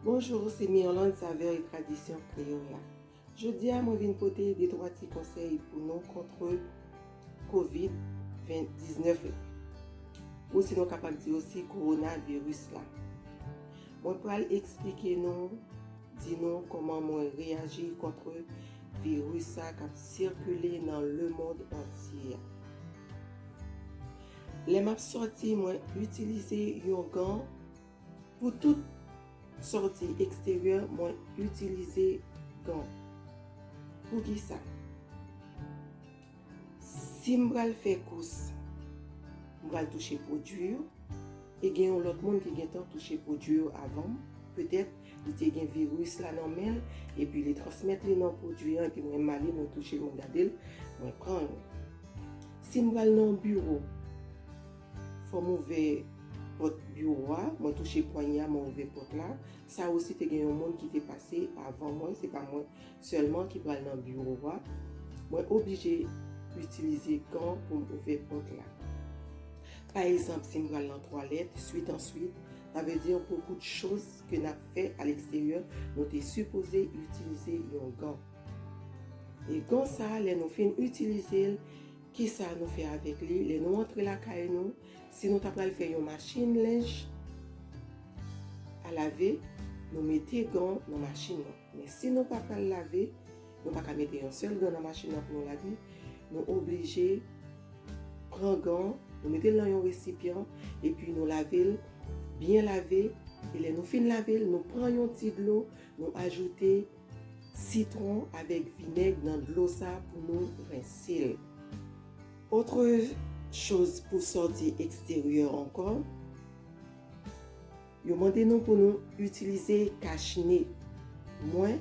Bonjour se Mirlande Saveur et Tradition Creola Jodi a mwen vin pote de twa ti konsèy pou nou kontre Covid 19 la ou si nou kapab di osi Corona Virus la Mwen pral eksplike nou di nou kòman mwen reyaji kontre virus sa kap sikile nan le mond antye a Lè map sòti mwen itilize yon gan Pou tout sòti eksteryè mwen itilize gan. Poukisa? Si m pral fè kous, m pral touche pwodui yo, e gen yon lòt moun ki gentan touche pwodui yo avan m, petèt li te gen viris la nan men l, epi li transmèt li nan pwodui an, epi mwen m ale mwen touche l mwen gade l, mwen pran l. Si m pral nan yon biwo. Fòm ouvè pòt biwo a, mwen touche pwanye a, mwen ouvè pòt la. Sa osi te gen yon moun ki te pase avan mwen, se pa mwen sèlman ki pral nan biwo a. Mwen oblije itilize gan pou m ouvè pòt la. Pa egzanp, si m pral nan twalèt, swit an swit, sa vle di bokou de choz ke n ap fè a leksteryè, nou te sipoze itilize yon gan. E gan sa a, lè nou fin itilize l, Kisa nou fè avèk li lè nou antre lakay nou, si nou ta pral fè yon machin lenj a lave, nou mete gan nan machin nan. Men si nou pa pral lave, nou pa ka mete yon sèl gan nan machin nan pou nou lave, nou oblije pran gan, nou mete l nan yon resipyan, epi nou lave l, byen lave, e lè nou fin lave l, nou pran yon ti dlo, nou ajoute. Sitron avèk vinèg nan dlo sa pou nou rense l. Autre chose pou sòti eksteryè ankò, yo mande nou pou nou itilize kach ne. Mwen,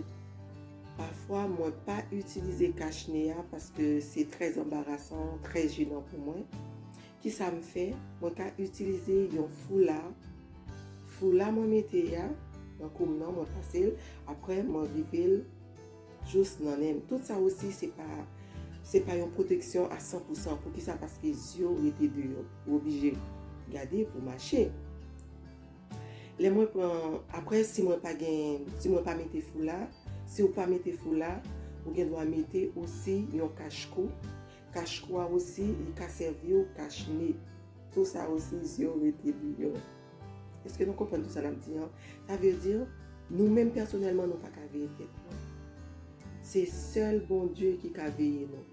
pafwa mwen pa itilize kach ne a paske se trè anbarasan, trè jenan pou mwen. Kisa m fè? Mwen ka itilize yon foula. Foula mwen mete a nan kou m nan, mwen pase l. Apre mwen rive l jous nan nen m. Tout sa osi se pa yon pwoteksyon a san pou san. Poukisa? Paske zye w rete deyò. Ou oblije gade pou mache. Lè mwen pran, apre si mwen pa gen, si mwen pa mete foula, si ou pa mete foula, ou gen dwa mete osi yon kach kou. Kach kou a osi li ka sèvi w kach ne. Tou sa osi zye w rete bouyon. Eske nou konprann tou sa nap di an? Sa vle di nou menm pèsonèlman nou pa ka veye tèt nou. Se sèl Bondye ki ka veye nou.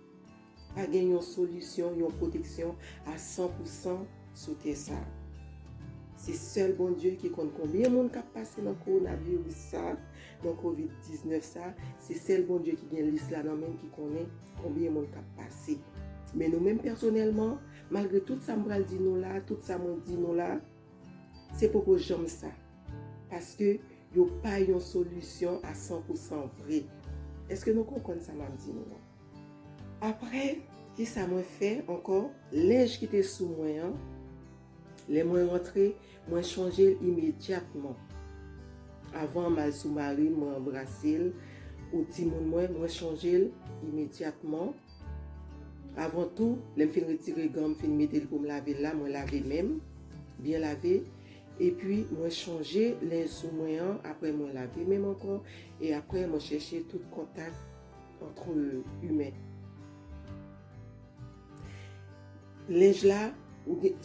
Pa gen yon solisyon, yon pwoteksyon a san pou san sou tè sa. Se sèl Bondye ki konn konbyen moun kap pase nan kowonaviris sa, Nan covid 19 sa, se sèl Bondye ki gen lis la nan menl ki konnen konbyen moun kap pase. Men nou menm pèsonèlman, malgre tout sa m pral di nou la, tout sa mwen di nou la, se poko janm sa. Paske yo pa yon solisyon a san pou san vre. Eske nou konprann sa map di nou an? Aprè, kisa mwen fè ankò? Linj ki te sou mwen an. Lè mwen rantre, mwen chonje l imedyatman. Avan m al sou mari m, mwen anbrase l, ou timoun mwen, mwen chonje l imedyatman. Avan tou, lè m fin retire gan m, fin mete l pou m lave l la, mwen lave men m, byen lave, epi mwen chonje lenj sou mwen an, apre mwen lave men m ankò, e apre mwen chèche tout kontak antre imen. Linge la ou gen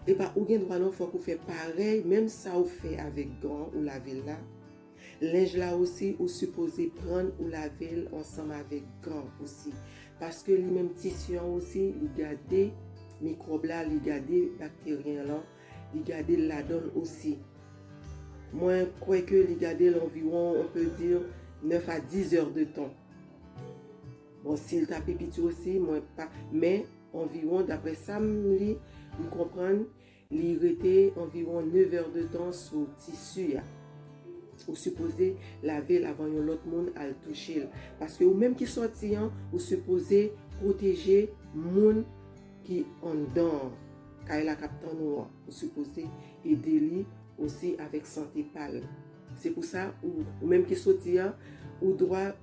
epa ou gen dwa non fok ou fè parèy menm sa ou fè avèk gan ou lavel la linge la osi ou sipoze prann ou lavel ansanm avèk gan osi paske li menm tisi an osi li gade mikwòb la li gade bakteryen lan li gadel ladanl osi mwen kwè ke li gadel anviwon on pe di 9 a 10 èr de tan. Bon sil ta pi piti osi mwen pa men anviwon daprè sam li m konprann li rete anviwon 9 heures de temps sou tissu a ou sipoze lavel avan yon lòt moun al touchel paske ou menm ki sòti an ou sipoze pwoteje moun ki anndan an kay la kap tann ou an ou sipoze ede li osi avèk sante pal se pou sa ou menm ki soti an ou dwa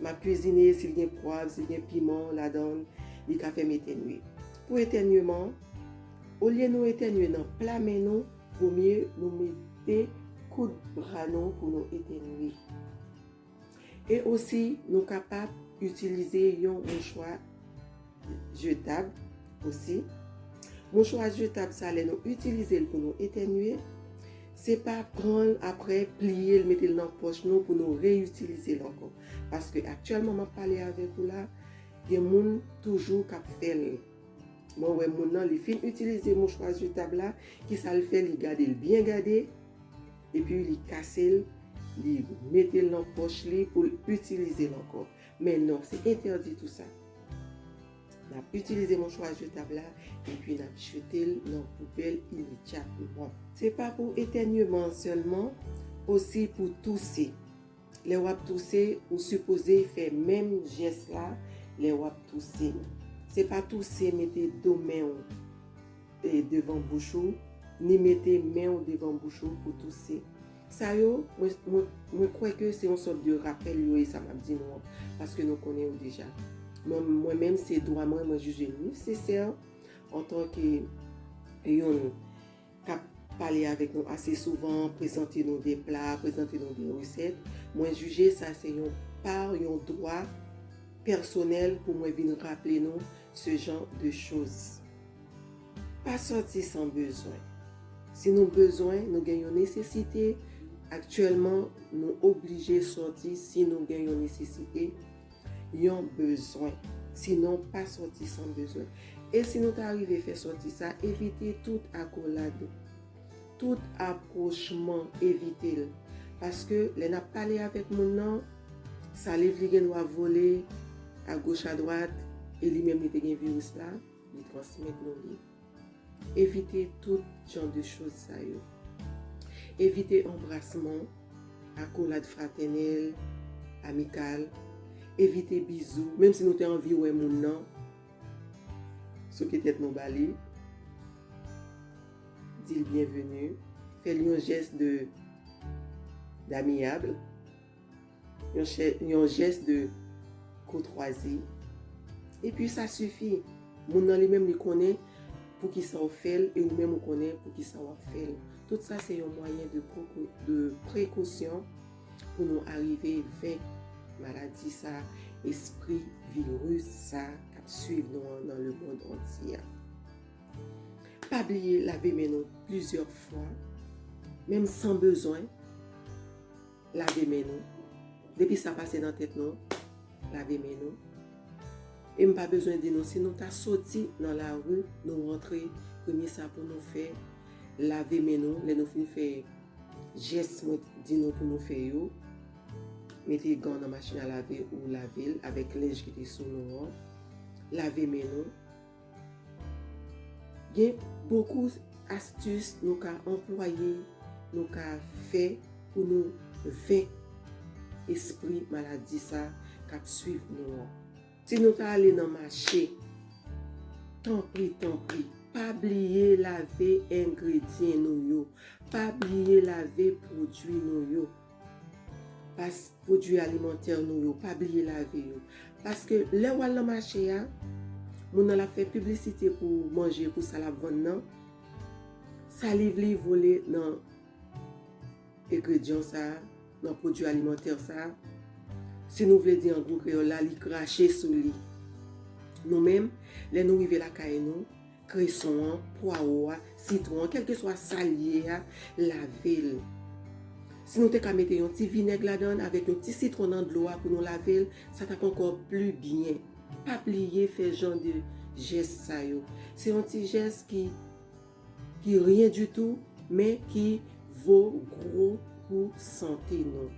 Map kwizine sil gen pwav sil gen piman ladann li ka fèm etènye pou etènyeman olye nou etènye nan pla men nou vomye nou mete koud bra nou pou nou etènye e osi nou kapab itilize yon mouchwa jetab osi. Mouchwa jetab sa lè nou itilize l pou nou etènye, se pa pran l aprè pliye l mete l nan pòch nou pou nou reyitilize l ankò. Paske aktyèlman m ap pale avèk ou la, gen moun toujou k ap fè l. Mwen wè moun nan li fin itilize mouchwa jetab la, kisa l fè li gade l byen gade, epi li kase l, li mete l nan pòch li pou l itilize l ankò. Men non, se entèdi tou sa. N ap itilize mouchwa jetab la epi n ap jete l nan poubèl imedyatman. Se pa pou etènyeman an sèlman, osi pou touse. Lè w ap touse, ou sipoze fè menm jès la lè w ap touse. Se pa touse mete do men w. devan bouch ou, ni mete men ou devan bouch ou pou touse. Sa yo, mwen kwè ke se yon sòt de rapèl yo ye sa map di nou an, paske nou konnen yo deja. Men mwen menm se dwa mwen, mwen jije nesesè antan ke youn kap pale avèk nou ase souvan, prezante nou de pla, prezante nou de resèt, mwen jije sa se yon par, yon dwa pèsonèl pou mwen vin raple nou se jan de choz. Pa sòti san bezwen. Si nou bezwen, nou gen yon nesesite, aktyèlman nou oblije sòti si nou gen yon nesesite, yon bezwen. Sinon, pa sòti san bezwen. E si nou ta rive fè sòti sa, evite tout akolad, tout apwochman, evite l. Paske lè n ap pale avèk moun nan, saliv li gen dwa vole agoch adwat e li menm li te gen viris la. Li transmèt nou li. Evite tout jan de choz sa yo. Evite anbrasman, akolad fratènèl, amikal. Evite bizou, menm si nou te anvi wè moun nan, souke tèt nou ba li. Di l byenveni, fè l yon jès de damiyab. Yon jès de koutwazi. Epi sa sifi. Moun nan li menm li konnen poukisa ou fè l e ou menm ou konnen poukisa w ap fè l. Tout sa se yon mwayen de prekosyon pou nou arive venk maladi sa, espri viris sa k ap swiv nou an nan lemonn antye a. Pa bliye lave men nou plizyè fwa, menm san bezwen. Lave men nou. Depi sa pase nan tèt nou, lave men nou. E m pa bezwen di nou, si nou ta soti nan lari, nou rantre, premye sa pou nou fè, lave men nou. Lè nou fin fè jès mwen di nou pou nou fè yo, mete gan nan machin a lave ou lave l avèk lenj ki te sou nou an. Lave men nou. Gen bokou astis nou ka anplwaye, nou ka fè pou nou venk espri maladi sa k ap swiv nou an. Si nou ta ale nan mache, tanpri tanpri, pa bliye lave engredyen nou yo, pa bliye lave pwodui nou yo. Pas pwodwi alimantè nou yo, pa bliye lave yo. Paske lè ou al nan mache a, moun nan l ap fè piblisite pou manje, pou sa l ap vann nan, saliv li vole nan egredyan sa a, nan pwodwi alimantè sa a. Si nou vle di an gwo kreyòl la, li krache sou li. Nou menm, lè nou rive lakay nou. kreson an, pwawo a, sitwon an, kèlkeswa sa l ye a, lave l. Si nou te ka mete yon ti vinèg ladan l avèk yon ti sitwon nan dlo a pou nou lave l, sa t ap ankò pli byen. Pa bliye fè jan de jès sa yo. Se yon ti jès ki ki ryen ditou men ki vo gwo pou sante nou.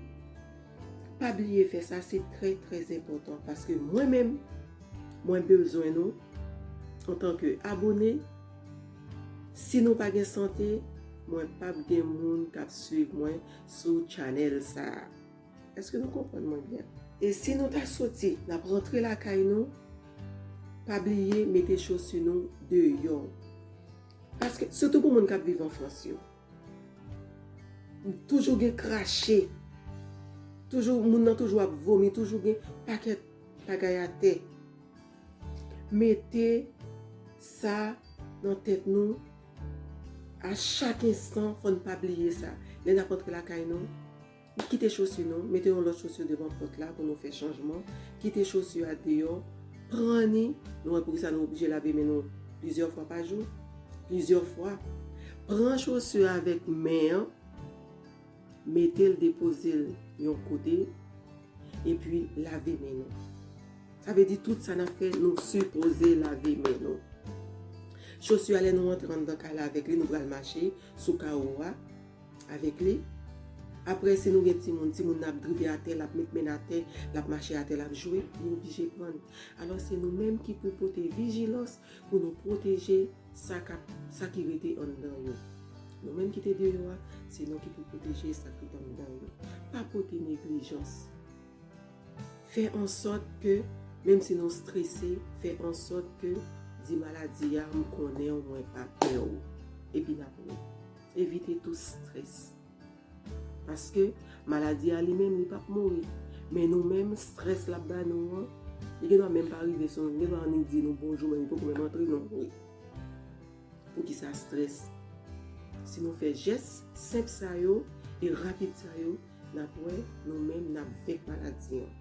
Pa bliye fè sa se trè trè enpòtan paske mwen menm mwen bezwen nou antanke abone si nou pa gen sante mwen pap gen moun kap swiv mwen sou channel sa eske nou konprann mwen byen. E si nou ta soti nap rantre lakay nou pa bliye mete chosi nou deyò paske sitou pou moun kap viv anfrans yo. Toujou gen krache. Toujou moun nan toujou ap vomi. Toujou gen pakèt bagay atè. Mete sa nan tèt nou. A chak ensan fòn pa bliye sa. Lè nap antre lakay nou. Kite chosu nou, mete yon lòt chosu devan pòt la pou nou fè chanjman, kite chosu a deyò, pran ni, nou wè poukisa nou oblije lave men nou plizyè fwa pa jou, plizyè fwa, pran chosu a avèk men an, mete l depoze l yon kote, epi lave men nou. Sa vle di tout sa n ap fè nou sipoze lave men nou. Chosu a lè nou antre anndan kay la avèk li nou pral mache sou kawo a, Avèk li. Aprè si nou gen timoun, timoun nan ap drive atè, l ap met men n atè, l ap mache atè, l ap jwe, li oblije pran n. Alò se nou menm ki pou pote vijilans pou nou pwoteje sa k ap, sa ki rete anndan yo. Nou menm ki te deyò a, se nou ki pou pwoteje sa k rete anndan yo. Pa pote neglijans. Fè ansòt ke, menm si nou strese, fè ansòt ke, di maladi a, m konnen w, mwen pa pè w. Epi n ap wè. Evite tou strès. Paske maladi a li menm li pap mouri. Men nou menm strès lap ba nou an, li gen dwa menm pa rive sou nou. Li gen dwa annik di nou bonjou men li poko menm antre nou mouri. Poukisa strès? Si nou fè jès senp sa yo e rapid sa yo, nap wè nou menm nap venk maladi an.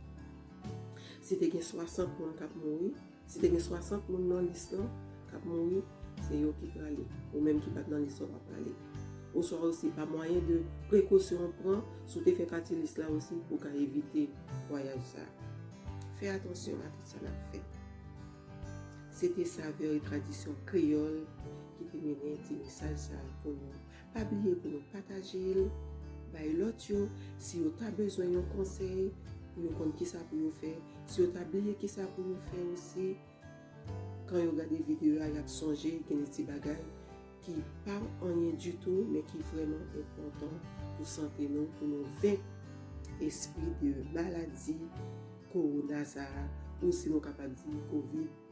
Si te gen 60 moun kap mouri. Si te gen 60 moun nan lis lan kap mouri, se yo ki prale. Ou menm ki pat nan lis lan pa prale. Oswa osi pa mwayen de prekosyon ou pran, si w te fè pati lis la osi ou ka evite vwayaj sa. Fè atansyon a tout sa nap fè. Se te savè e tradisyon kreyòl ki te mennen ti mesaj sa pou nou. Pa bliye pou nou pataje l bay lòt yo si yo ta bezwen yon konsèy pou yo konn kisa pou yo fè, si yo ta bliye kisa pou yo fè osi kan yo gade videyo a y ap sonje gen de ti bagay ki pa anyen ditou men ki vrèman enpòtan pou sante nou pou nou venk espri de maladi kowona sa a ou si nou kapab di covid.